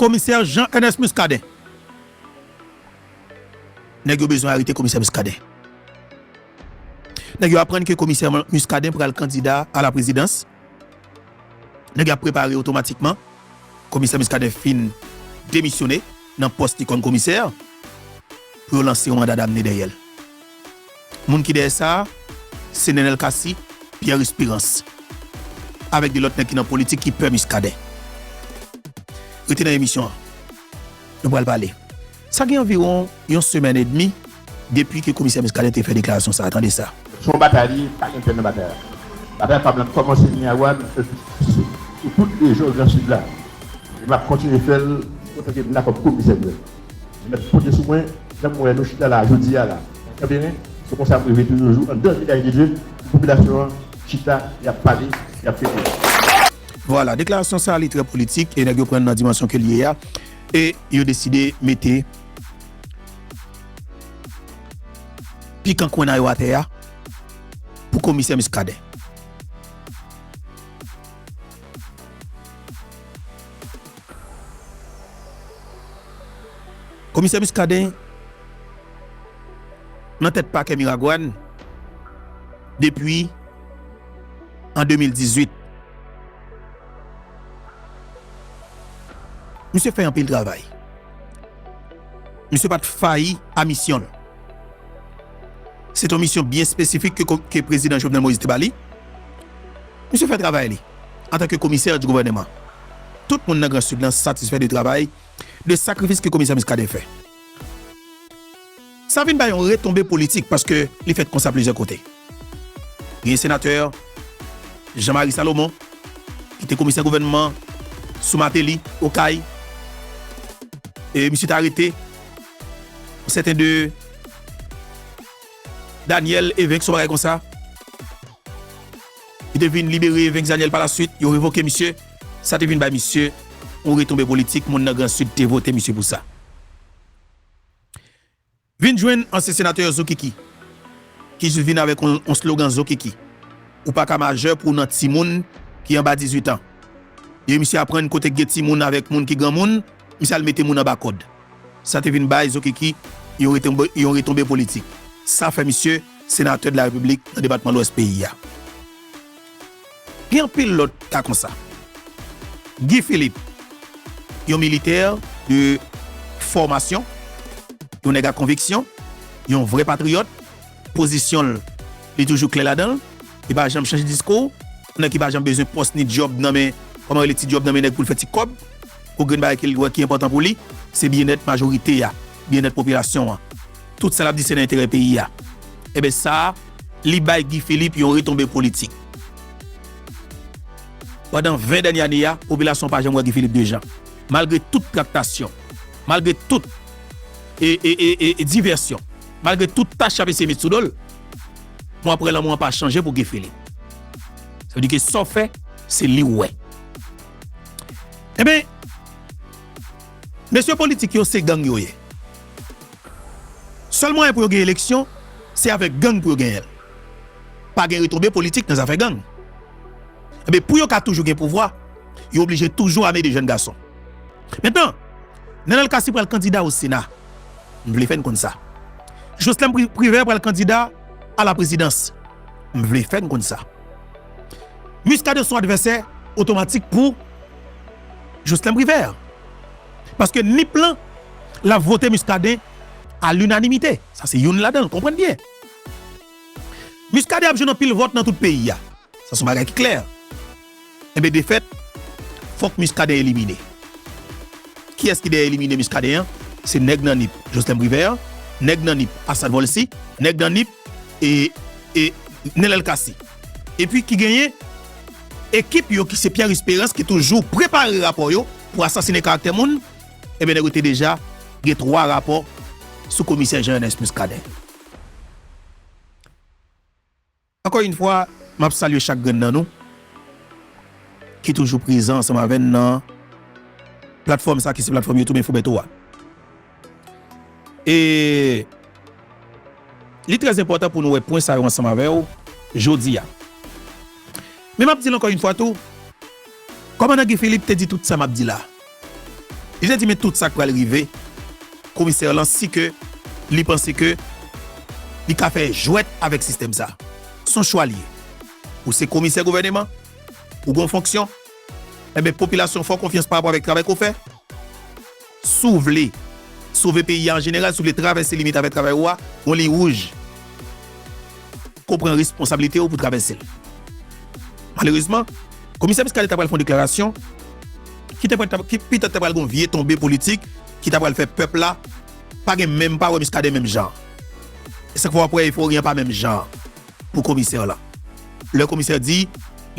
Komisè Jean Ernest Muscadin. Nèg yo bezwen arete komisè Muscadin. Nèg yo aprann ke komisè Muscadin pral kandida a la prezidans. Nèg yo ap prepare otomatikman komisè Muscadin fin demisyone nan pòs li kòm komisè pou yo lanse yon manda damne dèyè l. Moun ki dèyè sa a, se Nenel Cassy, Pierre Esperance avèk 2 lòt nèg ki nan politik ki pè Muscadin. Rete nan emisyon an. Nou pral pale. Sa gen anviwon yon semèn edmi depi ke Komisè Muscadin te fè deklarasyon sa a. Tande sa. Se yon batay li ye, pa gen pè nan batay la. Batay pa m lan kòmanse Miragoâne epi pouse sou tout rejyon Gran Sid la. E m ap kontinye fè l otanke m la kòm komisè nouvèl. Li met pote sou mwen janm wè nou chita la jodi a la nan kanberen se konsa m reve tou yon jou andan vilaj de Dye pou popilasyon an chita yap pale yap fete. Vwala, deklarasyon sa li trè politik e nèg yo prann nan dimansyon ke li ye a e yo deside mete pikan kwenna yo atè a pou komisè Muscadin. Komisè Muscadin nan tèt pakè Miragwàn depi an 2018. Misye fè anpil travay. Misye pa t fayi a misyon l. Se t yon misyon byen espesifik ke Prezidan Jovenel Moïse te ba li. Misye fè travay li antanke komisè di gouvèneman. Tout moun nan Gran Sid lan satisfè de travay, de sakrifis ke Komisè Muscadin fè. Sa vin bay yon retonbe politik paske li fèt konsa plizyè kote. Genyen Senatè Jean Marie Salomon ki te Komisè Gouvènman sou Martelly, Okay, e misye te arete yon sèten de Daniel Evens, yon bagay konsa. Li te vin libere Vexaniel palaswit, yo revoke misye, sa te vin bay misye yon retonbe politik, moun nan gran sid te vote misye pou sa. Vin jwenn ansyen senatè Zokiki ki jis vin avèk yon slogan Zokiki, ou pa ka majè pou w nan timoun ki anba 18 an. Lè misye aprann kote k gen timoun avèk moun ki granmoun, misye al mete moun anba kòd. Sa te vin bay Zokiki yon retonbe politik. Sa fè misye senatè de la Repiblik nan depatman Lwès peyi a. Gen anpil lòt ka konsa. Guy Philippe, yon militè de fòmasyon, yon nèg a konviksyon, yon vrè patriyòt, pozisyon l, li toujou klè ladan l, li pa janm chanje diskou, yon nèg ki pa janm bezwen pòs ni dyòb nan men, kòman rele ti dyòb nan men nèg pou l fè ti kòb. Pou grenn bagay ke li wè ki enpòtan pou li, se byennèt majorite a, byennèt popilasyon an. Tout sa l ap di se nan enterè peyi a. Enben sa a, li bay Guy Philippe yon retonbe politik. Pandan 20 dènye ane a, popilasyon an pa janm wè Guy Philippe de jan. Malgre tout traktasyon, malgre tout divèsyon, malgre tout tach y ap eseye met sou do l, mou aprè lanmou an pa chanje pou Guy Philippe. Sa vle di ke sa w fè, se li w wè. Ebyen mesye politik yo se gang yo ye. Sèl mwayen pou yo gen eleksyon se avèk gang pou yo genyenl. Pa gen retonbe politik nan zafè gang. Ebyen pou yo ka toujou gen pouvwa yo oblije toujou ame de jèn gason. Mentnan Nenel Cassy pral kandida o sena. M vle fè n konn sa. Joslèm Privè pral kandida a la prezidans. M vle fè n konn sa. Muscadin son advèsè otomatik pou Jocelin Privert paske Nip lan lap vote Muscadin a l'unanimite sa se youn ladanl konprann byen Muscadin ap jwenn anpil vòt nan tout peyi a sa son bagay ki klè. Enben defèt, fòk Muscadin elimine. Kiyès ki dèyè elimine Muscadin an? Se nèg nan Nip, Joslin Privert, nèg nan Nip, Assane Volcy, nèg nan Nip, e, e, Nenel Cassy. Epi ki genyen ekip yo ki se Pierre Esperance ki toujou prepare rapò yo pou asasine karaktè moun, enben nèg yo te deja gen 3 rapò sou komisè Jean Ernest Muscadin. Ankò yn fwa map salye chak grenn nan nou ki toujou prezan ansanm avèn nan platfòm sa ki se platfòm youtube info Bertho a e li trè enpòtan pou nou wè pwen sa yo ansanm avèw jodia men map dil ankò yn fwa tou kòmandan Guy Philippe te di tout sa map di la. Li te di men tout sa k pral rive komisè lan si ke li panse ke li ka fè jwèt avèk sistèm sa. S on chwa l ye. Ou se komisè gouvèneman, ou gen yon fonksyon, enben popilasyon fè w konfyans pa rapò avèk travay ke w fè. Si w vle sove peyi a an jeneral, si w vle travèse limit avèk travay ou a, gen yon liy wouj ke w pran responsablite w pou travèse l. Malerezman. Komisè Muscadin ta pral fè yon deklarasyon ki te pral, ki petèt te pral gen yon vye tonbe politik ki ta pral fè pèp la pa gen menm, pa wè Muscadin menm jan. E se k fè w ap wè efori an pa menm jan pou komisè la. Lè komisè di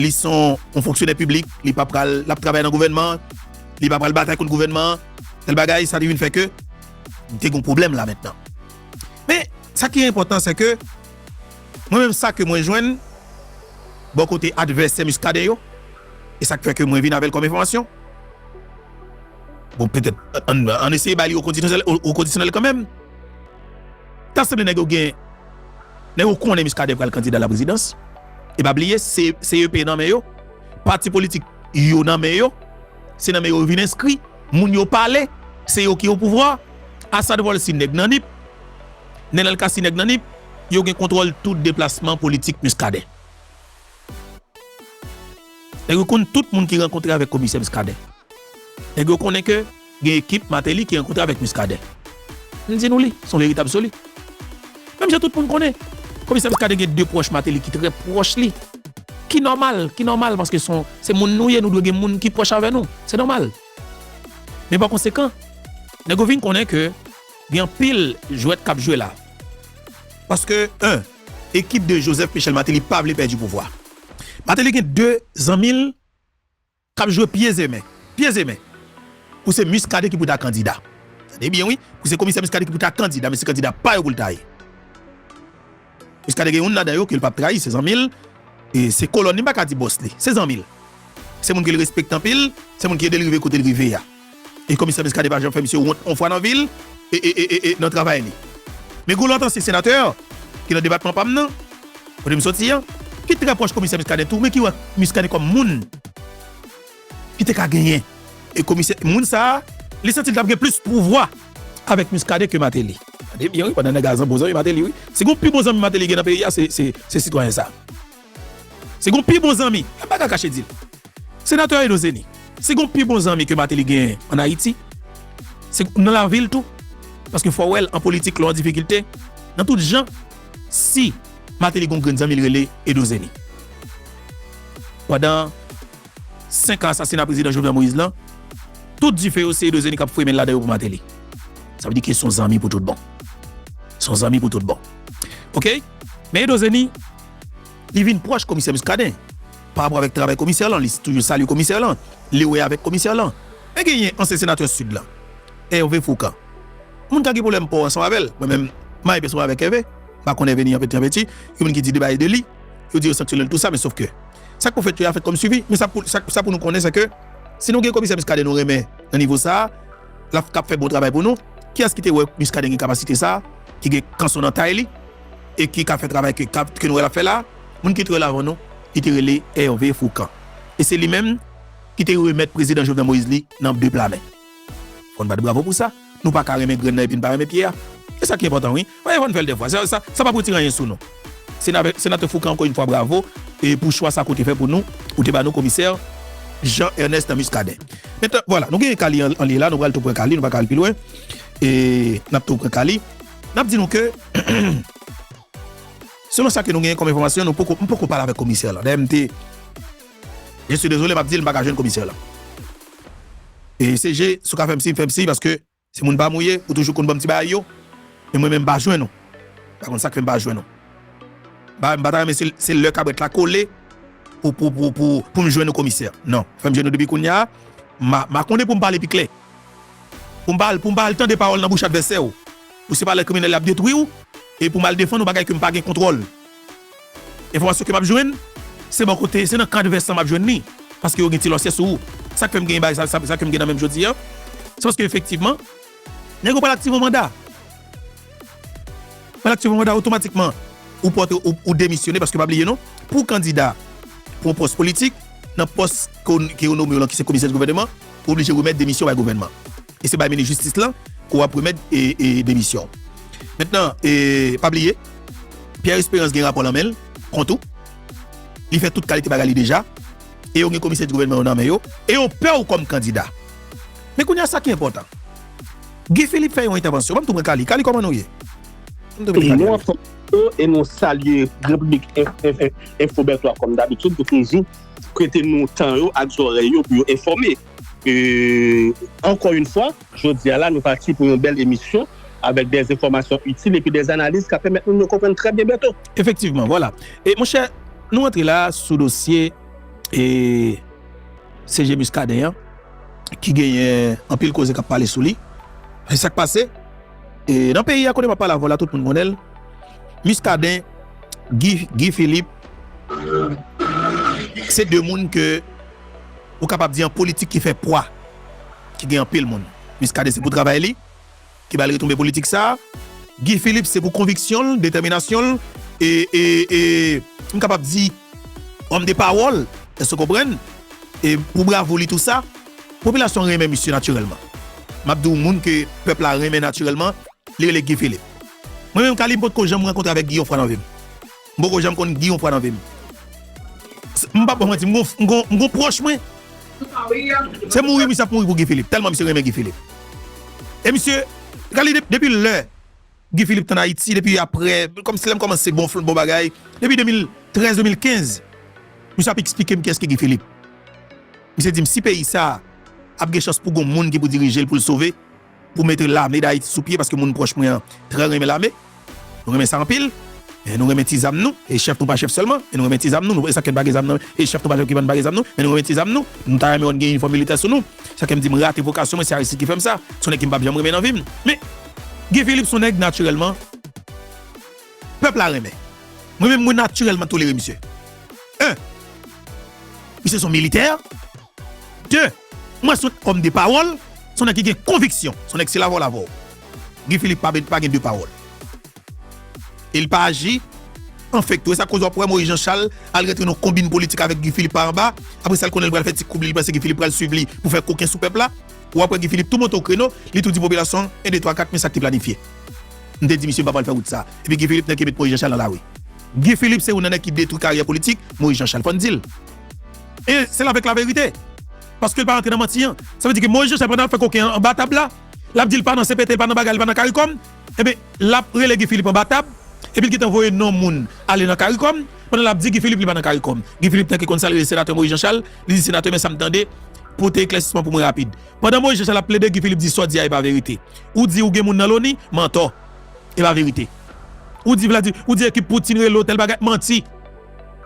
li se yon fonksyonè piblik, li pa pral, l ap travay nan gouvènman an, li pa pral batay kont gouvènman an, tèl bagay, sa te vin fè ke te gen yon pwoblèm la mentnan. Men, sa ki enpòtan se ke. Mwen menm sa ke mwen jwenn bò kote advèsè Muscadin yo, e sa k fè ke mwen vin avè l kòm enfòmasyon, bon petèt ann eseye bay li okondisyonèl kanmenm, ta sanble nèg yo gen, nèg yo konnen Muscadin pral kandida laprezidans, e pa bliye CEP nan men yo, pati politik yo nan men yo, se nan men yo yo vin enskri, moun yo pale, se yo ki opouvwa, Assad Volcy nèg nan Nip. Nenel Cassy nèg nan Nip, yo gen kontwòl tout deplasman politik Muscadin. Nèg yo konn tout moun ki rankontre avèk komisè Muscadin. Nèg yo konnen ke gen ekip Martelly ki rankontre avèk Muscadin. M di nou li, son verite absoli. Menm jan tout moun konnen, komisè Muscadin gen de pwòch Martelly ki trè pwòch li. Ki nòmal, ki nòmal paske son, se moun nou ye, nou dwe gen moun ki pwòch avè nou. Se nòmal. Men pa konsekan, nèg yo vin konnen ke. Gen anpil jwèt kap jwe la. Paske 1. Ekip 2 Joseph Michel Martelly pa vle pèdi pouvwa. Martelly gen 2 zanmi l kap jwe pye ze men, pye ze men pou se Muscadin ki pou ta kandida. Tande byen wi, pou se komisè Muscadin ki pou ta kandida men se kandida pa yo pou l ta ye. Muscadin gen youn ladan yo ke l pap trayi se zanmi l, se kolòn li m pa ka di bòs li, se zanmi l. Se moun ke l respekte anpil, se moun ki ede l rive kote l rive a. E komisè Muscadin pa janm fè misye wont yon fwa nan vi l e nan travay li. Me Goulant ansyen senatè ki nan depatman pa m nan, kote m soti an, ki trè pwòch komisè Muscadin tou men ki wè Muscadin kòm moun. ki te ka genyen e komisè moun sa li santi li tap gen plis pouvwa avèk Muscadin ke Martelly. Tande byen wi pandan nèg la zan bon zanmi Martelly wi si gon pi bon zanmi Martelly gen nan peyi a se sitwayen sa si gon pi bon zanmi e m pa ka kache dil Senatè Edon Zeni si gon pi bon zanmi ke Martelly genyen an Ayiti se nan lavil tou paske fò wèl an politik lè w an difikilte nan tout jan si Martelly gon grenn zanmi li rele Edon Zeni pandan 5 an asasina prezidan Jovenel Moïse lan, tout dife yo se Edozeni k ap fwe men l ladan yo pou Mateli. Sa vle di ke s on zanmi pou tout bon. S on zanmi pou tout bon. Ok? Men Edozeni, li vin pwòch komisè Muscadin, pa rapò avèk travay komisè lan, li toujou salye komisè lan, li wè avèk komisè lan. Men genyen ansyen senatè Sid lan, Hervé Fourcand. Moun ka gen pwoblèm po ansanm avè l. Mwen menm, m a epè sou avèk Hervé. M pa konn Hervé ni anpeti anpeti. Gen moun ki di de bagay de li. Yo di yo sanksyone l tou sa, men sof ke. Sa k pou fèt yo a fèt kòm swivi, men sa pou nou konnen se ke si nou gen komisè Muscadin nou renmen nan nivo sa a, l ap fè bon travay pou nou. Kiyès ki te wè Muscadin gen kapasite sa a, ki gen kanson nan tay li e ki ka fè travay ke nou wè l ap fè la a? Moun ki te wè l avan nou, li te rele Hervé Fourcand e se li menm ki te remèt prezidan Jovenel Moïse li nan de pla men. Fòn bat bravo pou sa, nou pa ka renmen grenn nan epi n pa renmen pye a. Se sa ki enpòtan wi. Paske fòn fè l 2 fwa. Sa sa pap retire anyen sou nou. Senave Senatè Foukan ankò yn fwa bravo e pou chwa sa ke w te fè pou nou, ou te ba nou komisè Jean Ernest Muscadin. Mentnan vwala nou gen ka li an li la nou pral tou pran ka li nou pa ka al pi lwen e nap tou pran ka li. Nap di nou ke selon sa ke nou genyen kòm enfòmasyon nou poko m poko pale avèk komisè lan dayè m te. Je suis désolé map dil m paka jwenn komisè la e se je si w ka fèm siy fèm siy paske se moun pam ou ye ou toujou konn banm ti bagay yo men mwen menm m pa jwenn ou m pa konn sak fèm pa jwenn ou m pa m pata renmen si se lè kabrèt la kole pou pou pou pou poum jwenn ou komisè nan fèm jwenn ou depi kounya ma ma konnen poum pale pi klè poum pa al poum pa al tande pawòl nan bouch advèsè w pou se pa lè kriminèl la ap detwi w e poum al defann ou bagay kem pa gen kontwòl. Enfòmasyon ke map jwenn se bò kote, se nan kad vès lan map jwenn li, paske yo gen ti lòsyè sou ou. Sak fèm gen bagay sa, sa kem gen nan menm jodi an, se paske efektivman nèg yo pral aktive yon manda. Pral aktive yon manda otomatikman ou pòtre ou demisyone, paske pa bliye non, pou w kandida pou yon pòs politik, nan pòs ke yo nome w lan ki se komisè di gouvèneman, ou oblije remèt demisyon bay gouvènman. E se bay minis jistis lan ke w ap remèt demisyon w. Mentnan, pa bliye, Pierre Espérance gen rapò lan men l kont ou, li fè tout kalite bagay li deja, e yo gen komisè di gouvènman yo nan men yo, e yo pè w kòm kandida. Men kounye a sa ki enpòtan, Guy Philippe fè yon entèvansyon, banm tou pran Kali. Kali kòman nou ye? Banm tou mete Kali la. Nou anfòm Bertho, e nou salye Repiblik Enfo Bertho a kòm dabitid pou toujou prete nou tan yo ak zòrèy yo pou yo enfòme. Ankò yn fwa, jodi a la nou pati pou yon bèl emisyon avèk dè enfòmasyon itil epi dè analiz kap pèmèt moun yo konprann trè byen Bertho. Efektivman, vwala. E monchè, nou rantre la a sou dosye CG Muscadin an ki genyen anpil koze kap pale sou li. E sak pase? Nan peyi a kote map pale avè'w la tout moun konnen l, Muscadin, Guy Philippe se 2 moun ke Ou kapab di yon politik ki fè pwa, ki gen anpil moun. Muscadin se pou travay li ki ba l retonbe politik sa a. Guy Philippe se pou konviksyon l, detèminasyon l e, e, e, m kapab di homme de parole, èske w konprann, e pou bravou li tou sa. Popilasyon an renmen misye natirèlman. M ap di w moun ke pèp la renmen natirèlman, li rele Guy Philippe. Mwen menm, Kali, m potko janm rankontre avèk Guy yon fwa nan vi m. M poko janm konn gin yon pwa nan vim. M pap baw manti m gon pwoch mwen. Se mouri misye ap mouri pou Guy Philippe telman misye renmen Guy Philippe. E misye gade li depi lè Guy Philippe t an Ayiti depi aprè kòmsi lèm kòmanse gonfl bon bagay depi 2013 2015 misye ap eksplikem kiyès ki Guy Philippe. Misye dim si peyi sa ap gen chans pou gon moun ki pou dirijel poul sove. Pou mete lame dayiti sou pye paske moun pwòch mwen an trè renmen lame nou renmen sa anpil e nou renmen ti zam nou e chèf nou pa chèf sèlman e nou renmen ti zam nou nou sakèn pa gen zam nan e chèf nou pa chèf ki vann pa gen zam nou men nou renmen ti zam nou nou ta renmen wè nou gen inifòm militè sou nou sakèm dim rate vokasyon mwen se aristid ki fèm sa son nèg kem pap janm renmen nan vim men Guy Philippe son nèg natirèlman. Pèp la renmen. Mwen menm mwen natirèlman tolere misye. 1, Misye son militè. 2, Mwen son òm de pawòl, son nèg ki gen konviksyon, son nèg se lavò lavò. Guy Philippe pa pa gen de pawòl. E li pa aji an fake tou. E sa k koz wap wè Moïse Jean Charles al rantre nan konbin politik avèk Guy Philippe pa anba. Aprè sa l konnen li pral fè ti koub li, li panse Guy Philippe pral swiv li pou fè koken sou pèp la. Wap wè Guy Philippe tou monte o kreno, li tou di popilasyon 1, 2, 3, 4 men sa k te planifye. M te di misye m pa pral fè wout sa. Epi Guy Philippe nèg ki met Moïse Jean Charles nan lari. Guy Philippe se youn nan nèg ki detwi karyè politik Moïse Jean Charles. Fò n di l. E se l avèk laverite. Paske l pa rantre nan manti an. Sa vle di ke Moïse Jean Charles pandan l ap fè koken an anba tab la, l ap di l pa nan cpt, l pa nan bagay, l pa nan caricom. Enben l ap rele Guy Philippe anba tab. Epi l gentan voye non moun ale nan caricom. Pandan l ap di Guy Philippe li pa nan caricom. Guy Philippe nèg ki konn sa l rele senatè Moïse Jean Charles. Li di senatè men sa m tande. Pote eklèsisman pou mwen rapid. Pandan Moïse Jean Charles ap plede Guy Philippe di sot di a e pa verite. Ou di ou gen moun nan loni, mantò. E pa verite. Ou di Vladi, ou di ekip Poutine rele yo tèl bagay, manti.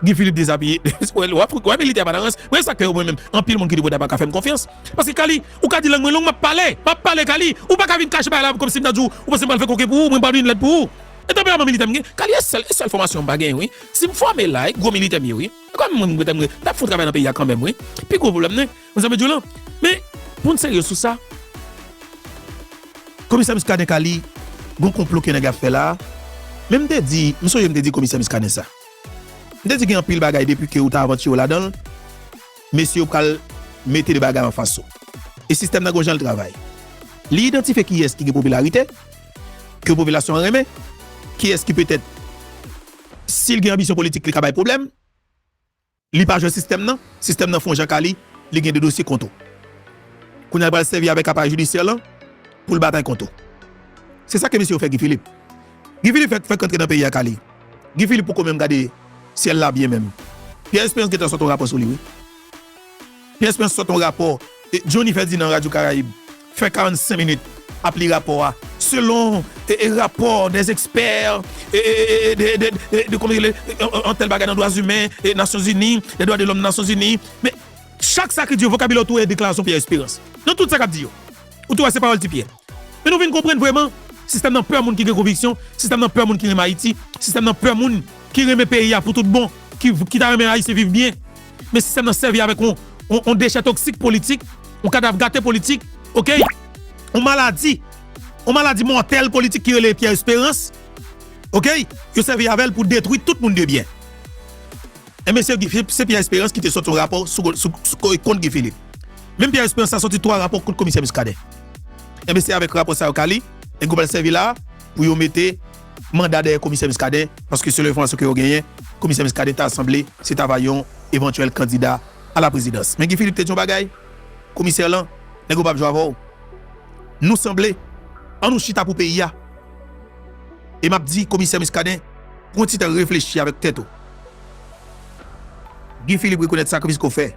Guy Philippe dezabiye. Ou wè militè pa nan rans. Mwen se sak fè yo mwen menm anpil moun ki depote a paka fèm konfyans. Paske Kali, ou ka di lang mwen long map pale. Map pale Kali. Ou paka vin kache bagay la komsi m ta di w ou panse m pral fè koken pou ou, mwen pa vin lèd pou ou. E tanperaman militè m gen, Kali e sèl, e sèl fòmasyon m pa genyen wi. Si m fòme la e gwo militè m ye wi. E kòmèm mwen m tap fout travay nan peyi a kanmèm wi. Pi gwo pwoblèm mwen, Mwen sa mwen di w lan, men pou n serye sou sa, Komisè Muscadin ka li gon konplo ke nèg ap fè la a, men m te di, m sonje m te di Komisè Muscadin sa, m te di gen anpil bagay depi ke ou ta avantire w ladan l, mesye yo pral mete de bagay anfas ou. E sistèm nan gon jan l travay. Li idantifye kiyès ki gen popilarite, ke popilasyon an renmen, kiyès ki petèt si l gen anbisyon politik li ka bay pwoblèm. Li pa jwe sistèm nan, sistèm nan fon janka li, li gen 2 dosye kont ou. Kounya li pral sèvi avèk aparèy jidisyè lan pou l batay kont ou. Se sa ke mesye yo fè Guy Philippe. Guy Philippe fèk fèk rantre nan peyi ak ale. Guy Philippe poko menm gade syèl la byen menm. Pierre Espérance gentan sot yon rapò sou li wi. Pyès mwen sot yon rapò Johnny Ferdinand Radyo Karayib fè 45 minit ap li rapò a selon rapò des experts de kòman rele yon tèl bagay nan dwa zimen Nasyon Zini les droits de l'homme Nasyon Zini men chak sa ki di yo vokabilè ou tou wè deklarasyon Pierre Espérance nan tout sa kap di yo ou tou wè se pawòl ti Pierre men nou vin konprann vrèman sistèm nan pè moun ki gen konviksyon sistèm nan pè moun ki renmen Ayiti sistèm nan pè moun ki renmen peyi a pou tout bon ki ta renmen Ayisyen viv byen. Men sistèm nan sèvi avèk yon dechè toksik politik, yon kadav gate politik, ok, yon maladi, yon maladi mòtèl politik ki rele Pierre Espérance, ok, yo sèvi avèl pou detwi tout moun de byen. E men se Pierre Espérance ki te sòti yon rapò kont Guy Philippe. Menm Pierre Espérance sa sòti 3 rapò kont komisè Muscadin. E men se avèk rapò sa yo ka li, e goup al sèvi la pou yo mete. manda dèyè komisè Muscadin paske selon enfòmasyon ke yo genyen komisè Muscadin ta sanble se ta va yon evantyèl kandida a la prezidans men Guy Philippe te di yon bagay komisè lan nèg yo pap jwe avèw nou sanble an nou chita pou peyi a e map di komisè Muscadin pran ti tan reflechi avèk tèt ou Guy Philippe rekonèt sakrifis ke w fè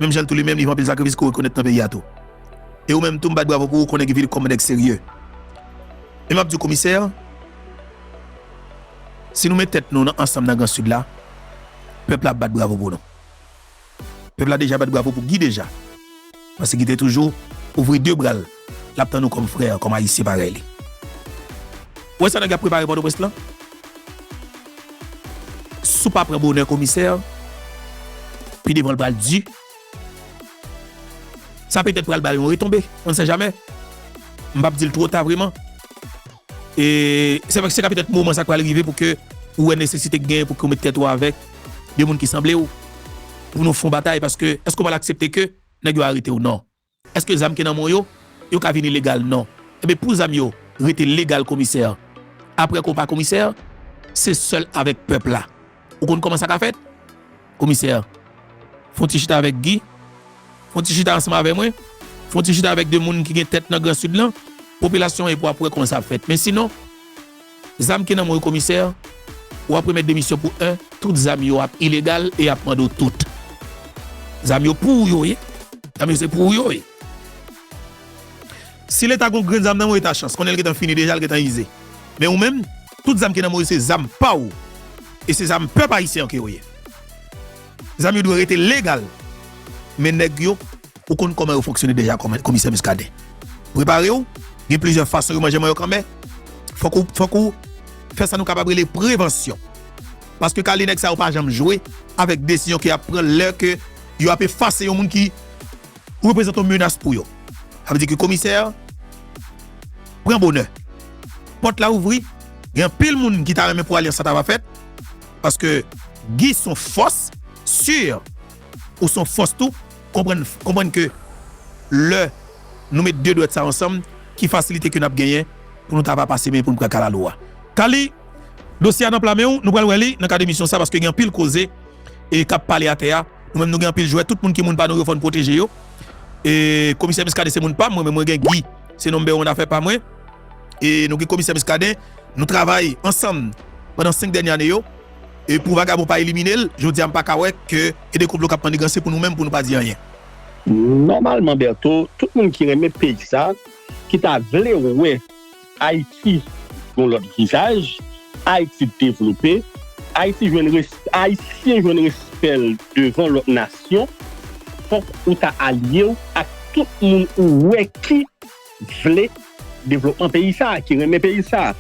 menm jan tou li menm li fè anpil sakrifis ke w rekonèt nan peyi a tou e ou menm tou m bat bravo pou ou konnen Guy Philippe kòm yon nèg serye. E map diw komisè, si nou met tèt nou nan ansanm nan gran sud la, pèp la ap bat bravo pou nou. Pèp la deja bat bravo pou Guy deja, paske Guy te toujou ouvri 2 bral lap tann nou kòm frè, kòm ayisyen parèy li. Ou wè sa nèg la ap prepare pòtoprens lan? Si w pa pran bonè komisè, pi devan l pral di. Sa petèt pral bay yon retonbe, on ne sait jamais. M pap di l two ta vreman. E se ka petèt moman sa k pral rive pou ke ou wè nesesite k genyen pou ke ou mete tèt ou avèk de moun ki sanble ou pou nou fon batay paske èske ou pral aksepte ke nèg yo arete ou? Non. Eske zam ki nan mon yo yo ka vini legal non enben pou zam yo rete legal komisè aprè ke w pa komisè se sèl avèk pèp la ou konn kòman sa ka fèt komisè fon ti chita avèk Guy fon ti chita ansanm avè mwen fon ti chita avèk 2 moun ki gen tèt nan gran sid lan popilasyon epi wap wè kòman sa ap fèt men sinon. Zam ki nan men w yo komisè, ou ap remèt demisyon pou 1. Tout zam yo ap ilegal e yap mande w tout. Zam yo pou ou yo ye. Zam yo se pou ou yo ye. Si leta gen yon grenn zam nan men w eta chans konnen l gentan fini deja, l gentan ize. Men ou menm, tout zam ki nan men w yo se zam pa w e se zam pèp ayisyen an ke yo ye. Zam yo dwe rete legal men nèg yo Ou konn kòman yo fonksyone deja komisè Muscadin. Prepare w, gen plizyè fason yo manje manyo k anmè. Fòk ou, fòk ou fè sa nou kapab rele prevansyon. Paske kale nèg sa yo pa janm jwe avèk desizyon ke y ap pran lè ke yo ap efase yon moun ki reprezante yon menas pou yo. Sa vle di ke komisè pran bonè. Pòt la ouvri, gen anpil moun ki ta renmen pou alyans sa ta va fèt. Paske Guy son fòs sur Ou son fòs tou, konprann konprann ke lè Nou met 2 dwèt sa ansanm ki fasilite ke nap genyen pou nou ta va pase men poun pran kalalou a. Kaly dosye a nan pla menw, nou pral wè li nan kad emisyon sa paske gen anpil koze e kap pale atè a, nou menm nou gen anpil jwè tout moun ki moun pa nou yo fòn pwoteje yo e komisè Muscadin se moun pam mwen menm mwen gen Guy se number 1 afè pa mwen e nou gen komisè Muscadin nou travay ansanm pandan 5 dènye ane yo. E pou vagabon pa elimine l, jodi a m pa ka wè ke e de konplo k ap manniganse pou nou menm pou nou pa di anyen. Nòmalman Bertho, tout moun ki renmen peyi sa, ki ta vle wè Ayiti gen yon lòt vizaj, Ayiti devlope, Ayiti jwenn respè, Ayisyen jwenn respè l devan lòt nasyon, fòk ou ta alye w ak tout moun ou wè ki vle devlopman peyi sa, ki renmen peyi sa.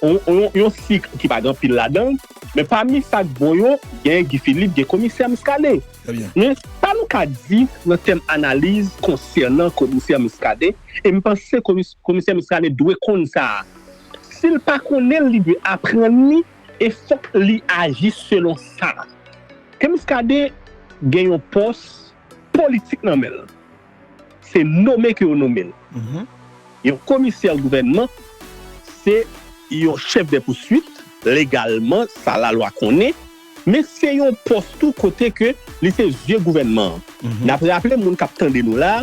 Yon sik ki pa gen anpil ladan l, men pami sa k bon yo, gen Guy Philippe, gen komisè Muscadin. Men, sa nou ka di nan tèm analiz konsènan komisè Muscadin, e m panse komisè Muscadin dwe konn sa a, si l pa konnen l, li dwe aprann li e fòk li aji selon sa, ke Muscadin gen yon pòs politik nan men l. Se nome ke yo nome l. Yon komisè gouvènman se yon chèf dè pouswit, legalman, sa lalwa konnen, men se yon pòs tou kote ke li se zye gouvènman an. N ap raple moun k ap tande nou la,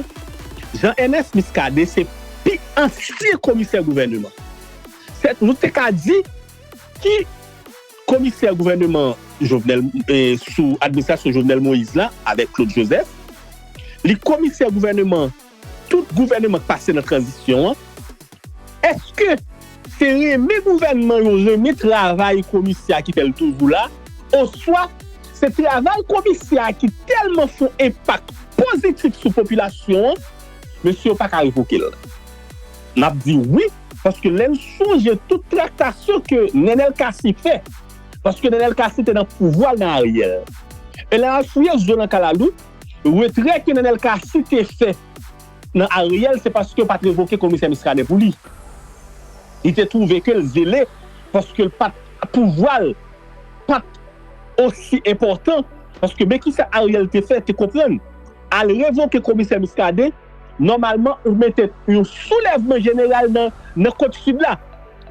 Jean Ernest Muscadin se pi ansyen komisè gouvèneman. Sèt nou te ka di Ki komisè gouvèneman Jovenel sou administrasyon Jovenel Moïse la avèk Claude Joseph. Li komisè gouvèneman tout gouvèneman k pase nan tranzisyon an. Eske se renmen gouvènman yo renmen travay komisè a ki fè l toujou la oswa se travay komisè a ki tèlman fon enpak pozitif sou popilasyon an mesye yo pa ka revoke l? N ap di wi. Paske lè l sonje tout traktasyon ke Nenel Cassy fè, paske Nenel Cassy te nan pouvwa l nan Ariel. E lè map fouye zo nan kalalou, retrè ke Nenel Cassy te fè nan Ariel se paske yo pat revoke komisè Muscadin pou li. Li te twouve ke l zele paske l pat pouvwa l pat osi enpòtan paske men kisa Ariel te fè te konprann. Al revoke komisè Muscadin. Nòmalman ou mete yon soulèvman jeneral nan kot sid la.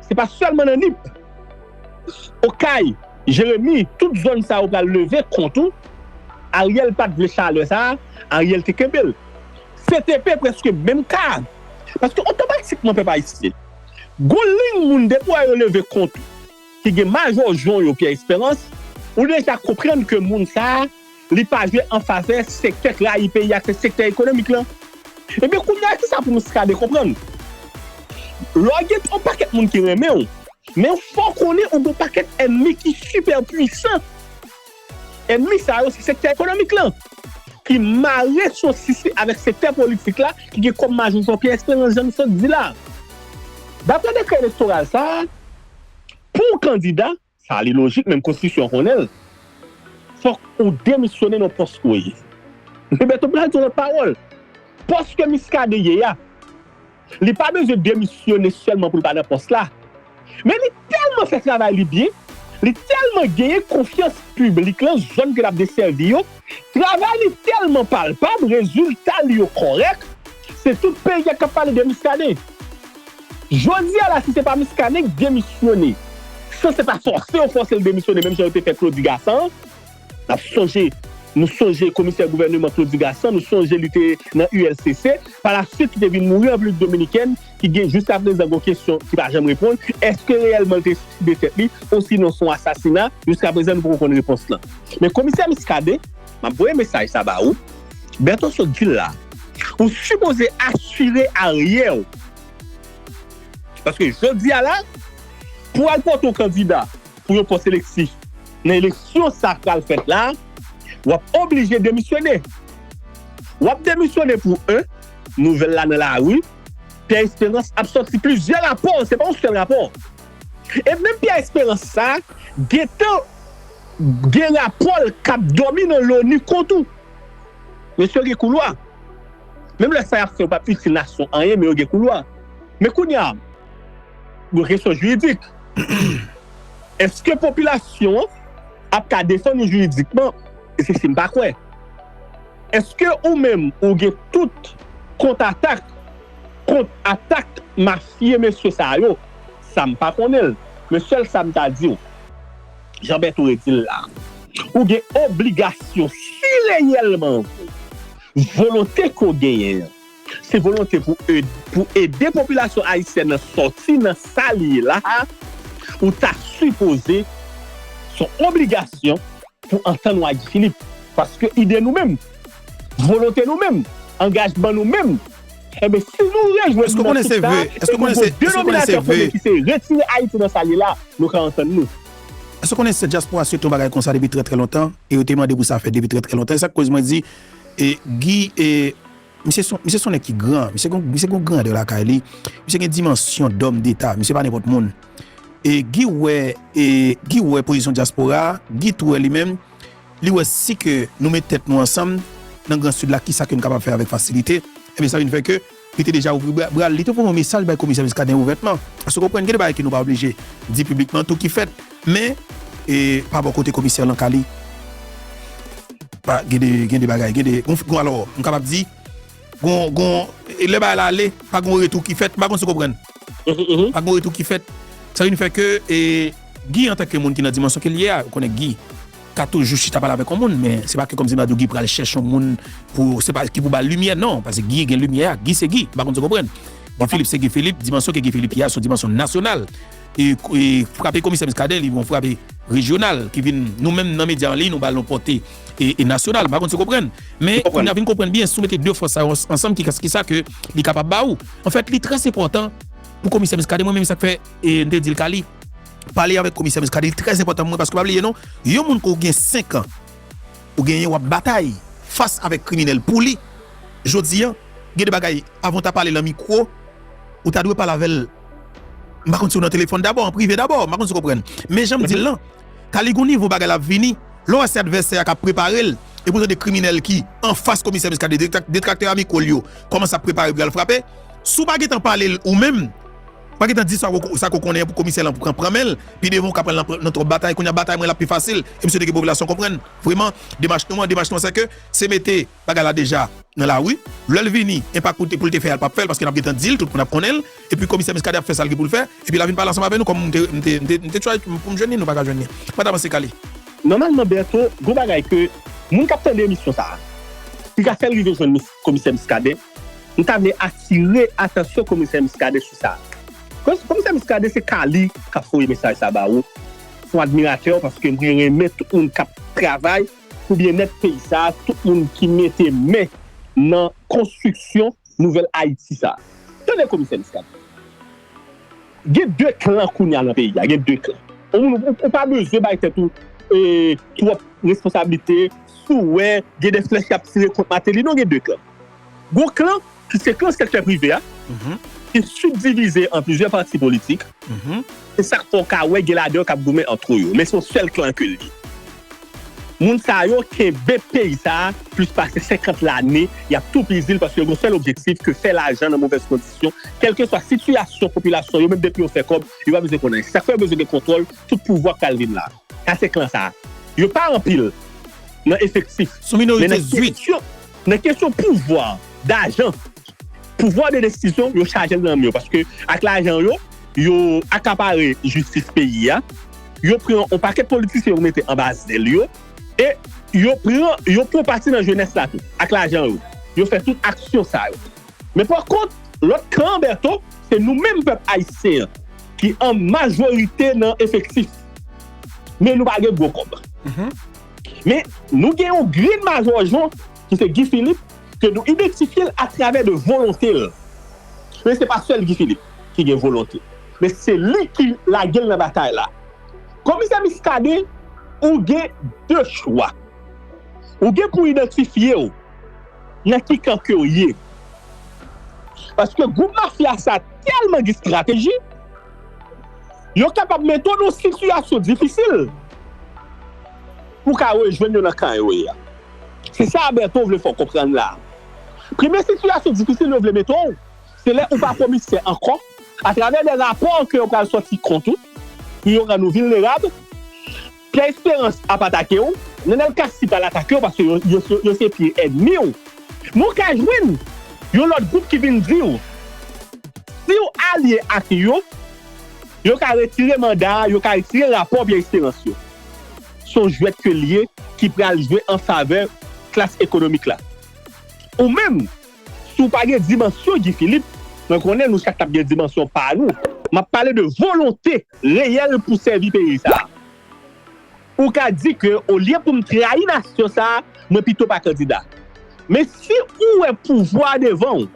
Se pa sèlman nan Nip. Okay, Jeremi, tout zòn sa yo pral leve kont ou. Ariel pat vle chalè sa a, Ariel te kenbe l. CTP prèske menm ka. Paske otomatikman pèp ayisyen. Gon liyn moun depi wè yo leve kont ou ki gen majò jon yo Pierre Esperance, ou deja konprann ke moun sa a. Li pa jwe an favè sektè k rayi peyi a k se sektè ekonomik lan. Ebyen kounye a kisa pou Miskadin konprann? Lè w gen on pakèt moun ki renmen w, men fò w konnen ou gen on pakèt ènmi ki sipè pwisan. Ènmi sa yo se sektè ekonomik lan ki mare sosis li avèk sektè politik la ki gen kòm majò Jean-Pierre Espérance jan nou sot di la. Daprè dekrè elektoral sa a, pou w kandida, Sa li lojik menm konstitisyon an konnen l. Fòk ou demisyone nan pòs ou ye. Msye Bèto m pral di yon lòt pawòl. Pòs ke Miskaden ye a, li pa bezwen demisyone sèlman pou l pa nan pòs la. Men li tèlman fè travay li byen, li tèlman genyen konfyans piblik lan zòn ke l ap desèvi yo, travay li tèlman palpab, rezilta li yo kòrèk, se tout peyi a k ap pale de Miskaden. Jodi a la si se pa Muscadin k demisyone san se pa fòse yo fòse l demisyone menm jan yo te fè Claudy Gassant n ap sonje nou sonje komisè gouvèneman Claudy Gassant nou sonje li te nan ULCC pa la swit ki te vin mouri an Repiblik Dominikèn ki gen jiska prezan gon kesyon ki pa janm reponn èske reyèlman l te suiside tèt li osinon s on asasina jiska prezan nou poko konn repons lan men komisè Muscadin Map voye mesaj sa ba ou. Bertho sot dil la. Ou sipoze asire aryè ou. Paske jodi a la pou al pote yon kandida pou yon pòs eleksi nan eleksyon sa pral fèt la wap oblije demisyone. Wap demisyone pou 1 nouvèl la nan lari Pierre Esperance ap sòti plizyè rapò se pa yon sèl rapò. E menm Pierre Esperance sa gentan gen rapòl kap dòmi nan loni kont ou. Mesye yo gen koulwa. Menm lè sa yap fè yo pap itil nasyon anyen men yo gen koulwa. Men kounya gen kesyon jiridik. Eske popilasyon an ap ka defann ou jiridikman? Se sim pa kwè. Eske ou menm ou gen tout kont atak kont atak mafye mesye sa yo? Sa m pa konnen l, men sèl sa m ta di w, jan Bèto redi l la, ou gen obligasyon si reyèlman w volonte ke w genyen an se volonte pou pou ede popilasyon ayisyèn nan sòti nan sa li ye la a, ou ta sipoze son obligasyon pou w antann w ak Guy Philippe. Paske ide nou menm, volonte nou menm, angajman nou menm. Enben, si nou rejwenn nou nan tout sa, e nou bon denominatè komen ki se retire Ayiti nan sa l ye la, nou ka antann nou. Èske w konnen se dyaspora swete yon bagay konsa depi trè trè lontan e yo te mande pou sa fèt depi trè trè lontan? E sa k koz mwen di Guy misye s on nèg ki gran, misye gen yon grandè lakay li, misye gen dimansyon dòm deta, misye pa nenpòt moun. Guy wè pozisyon dyaspora, Guy tou wè li menm. Li wè si ke nou met tèt nou ansanm nan gran Sid la kisa ke nou kapab fè avèk fasilite, ebyen sa vin fè ke li te deja ouvri bra l, li te voye yon mesaj bay Komisè Muscadin ouvètman. Paske w konprann gen de bagay ke nou pa oblije di piblikman tou ki fèt, men pa bò kote Komisè lan ka li pa gen de gen de bagay gen de gon alò m kapab di. Gon lè bagay la ale, pa gon retou ki fèt. M pa konn si w konprann. Pa gon retou ki fèt. Sa vin fè ke Guy antanke moun ki nan dimansyon ke l ye a, ou konnen Guy ka toujou chita pale avèk yon moun men se pa ke kòmsi m ta di w Guy pral chèche yon moun pou se pa ki pou ba l limyè non. Pase Guy gen limyè a. Guy se Guy. M pa konn si w konprann. Guy Philippe se Guy Philippe. Dimansyon ke Guy Philippe ye a se yon dimansyon nasyonal. E frape komisè Muscadin li yon frape rejyonal ki vin nou menm nan medya anliy nou ba l yon pòte. e nasyonal mpa konn si w konprann men kounya vin konprann byen si w mete 2 fòs sa yo ansanm kisa ke li kapab ba ou anfèt li trè enpòtan pou komisè Muscadin mwen menm se sak fè m te di l Kali pale avèk komisè Muscadin li trè enpòtan pou mwen paske pa bliye non yon moun ke w gen 5 an ou genyen wap batay fas avèk kriminèl pou li jodi an gen de bagay avan w ta pale lan mikwo ou ta dwe pale avè l mpa konn si w nan telefòn dabò an prive dabò mpa konn si w konprann men jan m di l lan. Kali gon nivo bagay lap vini lè w wè se advèsè a kap prepare l epi w tande kriminèl ki anfas komisè Muscadin detraktè a mikwo l yo kòmanse ap prepare pou y al frape si w pa gentan pale l ou menm pa gentan di sa ke w konnen pou komisè lan pran pran men l pi devan w ka pran l nan twòp batay kounye a batay mwen la ap pi fasil e m swete ke popilasyon konprann vreman demach nou an demach nou an se ke se mete. Bagay la deja nan lari. Lèl vini enpak pou l te fè a l pap fè l paske nap gentan dil tout moun ap konnen l epi komisè Muscadin ap fè sal gen pou l fè epi la vin pale ansanm avè nou kòm m te try pou m jwenn li nou paka jwenn li pat avanse kale. Nòmalman Bertho gon bagay ke moun kap tande emisyon sa a ki ka fèl rive jwenn komisè Muscadin m ta vle atire atansyon komisè Muscadin sou sa komisè Muscadin se ka li kap voye mesaj sa ba ou son admiratè w paske mwen renmen tout moun kap travay Pou byennèt peyi sa a, tout moun ki mete men nan konstriksyon nouvèl Ayiti sa a. Tande komisè Miskaden. Gen 2 klan kounye a nan peyi a. Gen 2 klan. Yon moun ou pa bezwen bay tèt ou twòp responsablite si w wè gen de flèch y ap tire kont Mateli non. Gen 2 klan. Gon klan, ki se klan sektè prive a, ki sibdivize an plizyè pati politik, se sa k fè w ka wè gen ladan yo k ap goumen antre yo, men se yon sèl klan ke l ye. Moun sa yo kenbe peyi sa a plis pase 50 lane, y ap toupizi l paske yo gen yon sèl objektif ke fè lajan nan movèz kondisyon, kèlkeswa sitiyasyon popilasyon yo, menm depi yo fè kòb, yo pa bezwen konn anyen. Se sa k fè yo bezwen gen kontwòl tout pouvwa k pral vin la. Sa se klan sa a. Yo pa anpil nan efektif, men nan kesyon. Nan kesyon pouvwa, dajan, pouvwa de desizyon yo chajel nan men yo paske ak lajan yo, yo akapare jistis peyi a, yo pran yon pakèt politisyen yo mete anba zèl yo e yo pran yon pon pati nan jenès la tou ak lajan yo, yo fè tout aksyon sa yo. Men pa kont lòt kan an Bertho, se nou menm pèp ayisyen an ki an majorite nan efektif men nou pa gen gwo kòb. Men, nou gen yon grenn Majò Jan, ki se Guy Philippe, ke nou idantifye l atravè de volonte l. Men se pa sèl Guy Philippe ki gen volonte. Men se li ki lage l nan batay la. Komisè Muscadin, ou gen de chwa. Ou gen pou idantifye w nan ki kan ke w ye. Paske gwoup mafya sa tèlman gen strateji. Yo kapab mete w nan sitiyasyon difisil pou w ka rejwenn yo nan kan yo ye a. Se sa Bertho vle fè w konprann la a. Premye sitiyasyon difisil yo vle mete w, se lè ou pa komisè ankò, atravè de rapò ke yo pral sòti kont ou pou yo rann ou vilnerab, Pierre Esperance ap atake w, Nenel Cassy pral atake w paske yo se pye èdmi w. Men w ka jwenn yon lòt gwoup ki vin di w si w alye ak yo, yo ka retire manda a, yo ka retire rapò Pierre Esperance yo. Se yon jwèt ke l ye ki pral jwe an favè klas ekonomik la. Ou menm, si w pa gen dimansyon Guy Philippe, mwen konnen nou chak t ap gen dimansyon pa nou, m ap pale de volonte. reyèl pou sèvi peyi sa a. Ou ka di ke olye pou m trayi nasyon sa a, mwen pito pa kandida. Men si ou wè pouvwa a devan ou,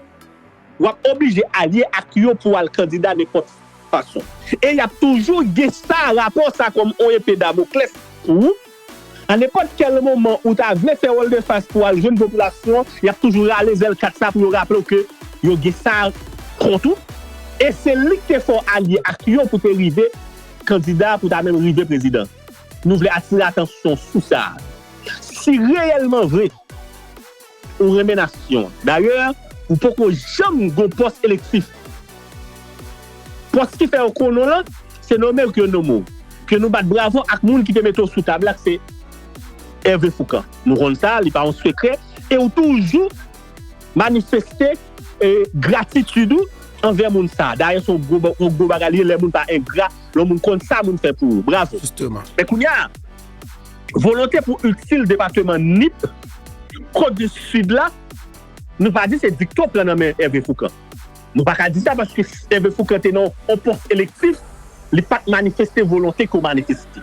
w ap oblije alye ak yo pou w al kandida nenpòt fason. E y ap toujou gen sa rapò sa kòm on epe damoklès pou ou. A nenpòt kèl moman ou ta vle fè woldefas pou al jwenn popilasyon, y ap toujou rale zèl kat sa pou yo raple w ke yo gen sa kont ou, e se li ki te fè w alye ak yo pou te rive kandida, pou ta menm rive prezidan. Nou vle atire atansyon sou sa. Si reyèlman vre. Ou renmen nasyon an. Dayè, ou poko janm gon pòs elektif. Pòs ki fè yo konnen w lan, se nome ou ke yo nome w. Ke nou bat bravo ak moun ki te mete w sou tab la, k se Hervé Fourcand. Nou konn sa, li pa yon sekrè. E ou toujou manifeste gratitid ou anvè moun sa. Dayè, se yon gwo bagay li ye lè moun pa engra, lè moun konn sa moun fè pou ou. Bravo! Men kounya. Volonte pou itil depateman Nip, Kòt di Sid la, nou pa di se dikto pran nan men Ève Foukan. Nou pa ka di sa paske Ève Foukan te nan yon pòs elektif, li pa t manifeste volonte ke w manifeste.